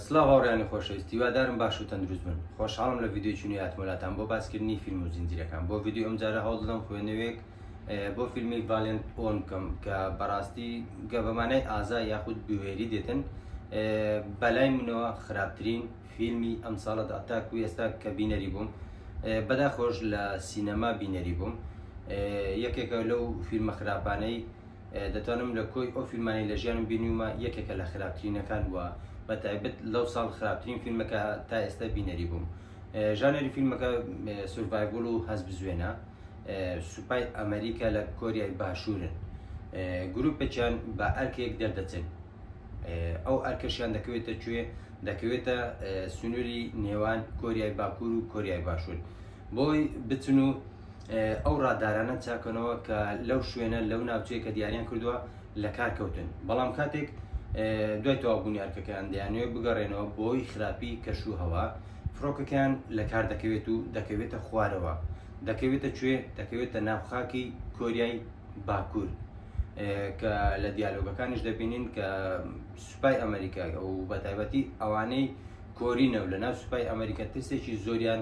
سڵاو هاوڕێیانی خۆشەویست هیوادارم باش و تەندروست بن خۆشحاڵم لە ڤیدیۆی چونی هاتمەلاتان بۆ باسکردنی فیلم و زنجیرەکان بۆ ڤیدیۆ ئەم جارە هەوڵ دەدەم خوێنەوەیەک بۆ فیلمی ڤالێنت ئۆن بکەم کە بەڕاستی گە بەمانای ئازا یاخود بوێری دێتن بەلای منەوە خراپترین فیلمی ئەم ساڵە داتاک و ئێستا کە بینەری بووم بەدا خۆش لە سینەما بینەری بووم یەکێکە لەو فیلمە خراپانەی دەتوانم لە کۆی ئەو فیلمانی لە ژیانم بینیومە یەکێکە لە خراپترینەکان وە بە تایبەت لەو ساڵ خراپترین فیلمەکە تا ئێستا بینەری بووم ژانەری فیلمەکە سورڤایڤل و هەز بزوێنە سوپای ئەمریکا لە کۆریای باشوورن گروپێکیان بە ئەرکێک دەردەچن ئەو ئەرکەشیان دەکەوێتە کوێ دەکەوێتە سنووری نێوان کۆریای باکوور و کۆریای باشوور بۆی بچن و ئەو ڕادارانە چاکەنەوە کە لەو شوێنە لەو ناوچەیە کە دیاریان کردووە لە کار کەوتن بەڵام کاتێک دوای تەوابوونی ئەرکەکەیان دەیانوێ بگەڕێنەوە بۆی خراپی کەش و هەوا فڕۆکەکەیان لە کار دەکەوێت و دەکەوێتە خوارەوە دەکەوێتە کوێ دەکەوێتە ناوخاکی کۆریای باکوور کە لە دیالۆگەکانیش دەبینین کە سوپای ئەمریکا و بەتایبەتی ئەوانەی کۆرینە و لە ناو سوپای ئەمریکا ترسێکی زۆریان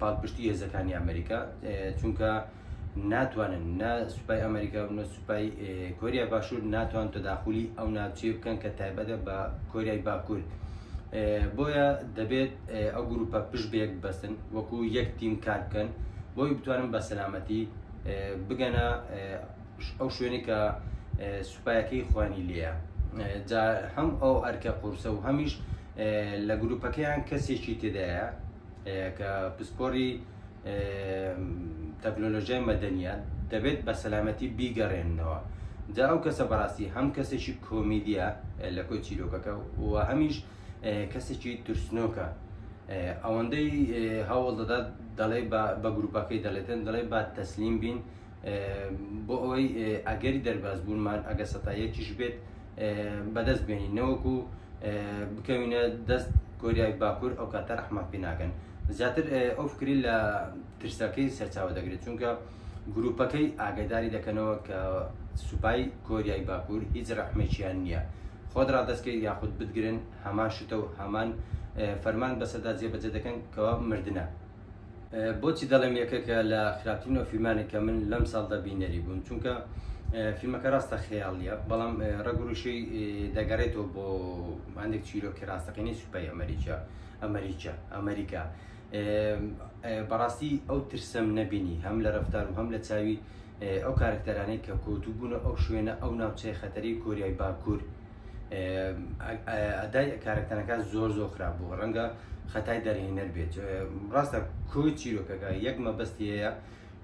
پاڵپشتی هێزەکانی ئەمریکا چونکە ناتوانن نە سوپای ئەمریکا و نە سوپای کۆریا باشوور ناتوان تەداخلی ئەو ناوچێ بکەن کە تایبەتە بە کۆریای باکوور بۆیە دەبێت ئەو گروپە پشت بێک بەسن وەکو یەک تیم کار بکەن بۆی بتوانن بە سەلامەتی بگەنە ئەو شوێنی کە سوپایەکەی خوانی لێە جا هەم ئەو ئەرکە قورسە و هەمیش لە گروپەکەیان کەسێکی تێدایە کە پسپۆری تەکنۆلۆژیای مەدەنیە دەبێت بە سەلامەتی بیگەڕێنەوە جا ئەو کەسە بەڕاستی هەم کەسێکی کۆمیدیە لە کۆی چیرۆکەکە و هەمیش کەسێکی ترسنۆکە ئەوەندەی هەوڵ دەدات دەڵێ بە گروپەکەی دەڵێتن دەڵێ با تەسلیم بین بۆ ئەوەی ئەگەری دەربازبوونمان ئەگە سەتا یەکیش بێت بەدەست بێنین نەوەکو بکەوینە دەست کۆریای باکوور ئەو کاتە رەحمان پێ ناکەن زیاتر ئەو فکری لە ترسەکەی سەرچاوە دەگرێت چونکە گروپەکەی ئاگداری دەکەنەوە کە سوپای کۆریای باکوور هیچ رەحمێکیان نییە خۆت ڕادستکەی یاخود بتگرن هەمان شتە و هەمان فەرمان بەسەدا جێبەجێ دەکەن کەوا مردە بۆچی دەڵێم یەکەکە لە خراپترین و فیلمانی کە من لەم ساڵدا بینەری بوون چونکە فیلمەکە ڕاستە خەیاڵە بەڵام ڕگوروشی دەگەڕێتەوە بۆ هەندێک چیرۆکی ڕاستەقینی سوپای ئەمریکا ئەمریکا ئەمریکا بەڕاستی ئەو ترسم نەبینی هەم لە ڕفتار و هەم لە چاوی ئەو کارکتەرانەی کە کۆتوبوون ئەو شوێنە ئەو ناوچەی خەتەری کۆریای باکوور ئەدای کارەکتەرەکە زۆر زۆر خراپ بوو ڕەنگە خەتای دەرهێنەر بێت ڕاستە کو چیرۆکەکە یەک مەبەستی هەیە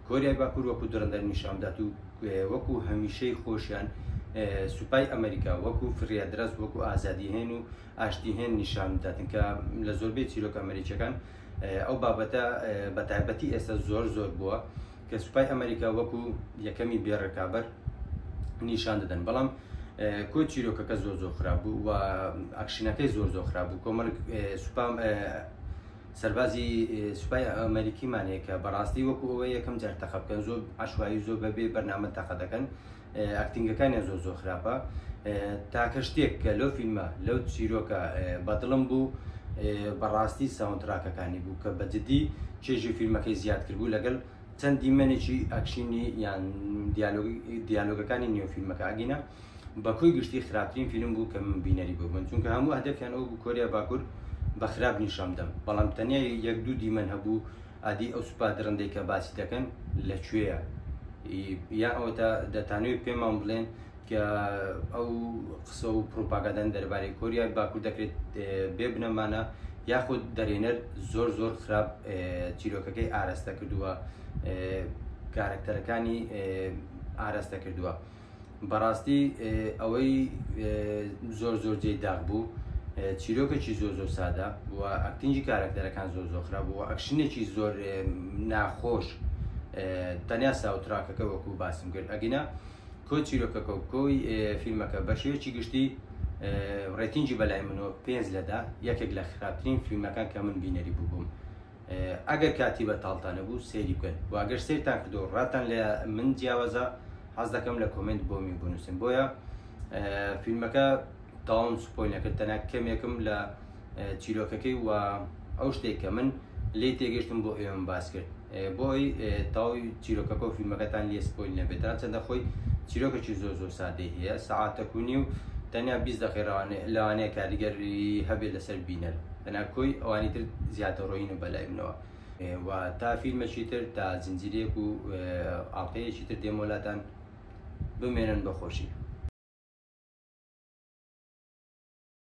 کۆریای باکوور وەکو درندەر نیشاندات و وەکو هەمیشەی خۆشیان سوپای ئەمریکا وەکو فریادرەست وەکو ئازادی هێن و ئاشتی هێن نیشان بداتن کە لە زۆربەی چیرۆکە ئەمریکەکان ئەو بابەتە بە تایبەتی ئێستا زۆر زۆر بووە کە سوپای ئەمریکا وەکو یەکەمی بێ ڕکابەر نیشان دەدەن بەڵام کۆ چیرۆکەکە زۆر زۆر خراپ بوو و ئەکشنەکەی زۆر زۆر خراپ بوو کۆمەڵک سوپام سەربازی سوپای ئەمریکیمانەیە کە بەڕاستی وەکو ئەوە یەکەم جار تەقە بکەن زۆر عشوایی زۆر بەبێ بەرنامە تەقە دەکەن ئەکتینگەکانیان زۆر زۆر خراپە تاکە شتێک کە لەو فیلمە لەو چیرۆکە بەدڵم بوو بەڕاستی ساونتراکەکانی بوو کە بەجددی چێژی فیلمەکەی زیاد کردبوو لەگەل چەند دیمەنێکی ئەکشینی یان دیالۆگەکانی نیۆفیلمەکە ئەگینە بەکوی گشتی خراپترین فیلم بوو کە من بینەری بوو من چونکە هەموو هەدەفیان ئەو بوو کۆریا باکوور بە خراپ نیشان بدەم بەڵام تەنیا یەک دوو دیمەن هەبوو ئادی ئەو سوپا درندەی کە باسی دەکەن لە کوێیە؟ یان ئەوەتا دەتانەوێت پێمان بڵێن کە ئەو قسە و پروپاگادان دەربارەی کۆریای باکوور دەکرێت بێ بنەمانە یاخود دەرێنەر زۆر زۆر خراپ چیرۆکەکەی ئارەستە کردووە کارکتەرەکانی ئارەستە کردووە. بەڕاستی ئەوەی زۆر زۆر جێی داغ بوو چیرۆکێکی زۆر زۆر سادە و ئەکتنجی کارەکتەرەکان زۆر زۆر خراپ بوو ئەکشنێکی زۆر ناخۆش تەنیا ساوتراکەکە وەکو باسم کرد ئەگینا کۆ چیرۆکەکە و کۆی فیلمەکە بە شێوەیەکی گشتی ڕێتینجی بەلای منۆ پێنج لەدا یەکێک لە خراپترین فیلمەکان کە من بینەری بوو بووم ئەگەر کاتی بەتاڵتان نەبوو سەیری بکەن و ئەگەر سەیرتان کردو ڕاتان لە من جیاوازە حەز دەکەم لە کۆمنت بۆمی بنووسن بۆیە فیلمەکە تاوم سپۆی نەکرد تەنە کەمێکم لە چیرۆکەکەی و ئەو شتێک کە من لی تێگەشتم بۆ ئێوەم باس کرد بۆی تاوی چیرۆکەکە و فیلمەکەتان لێ سپۆی نەبێت تا چەندە خۆی چیرۆکەکی زۆر زۆر سادەی هەیە سەعاتەکونی و تەنیا بیست دەقێڕوانێ لەوانەیە کاریگەری هەبێت لەسەر بینەر بەنا کۆی ئەوانی تر زیاتەڕۆیین و بەلای منەوە و تا فیلمەکی تر تا زنجیرەیەک و ئاڵقەیەکی تر دێمۆلاتان بمێنن بە خۆشی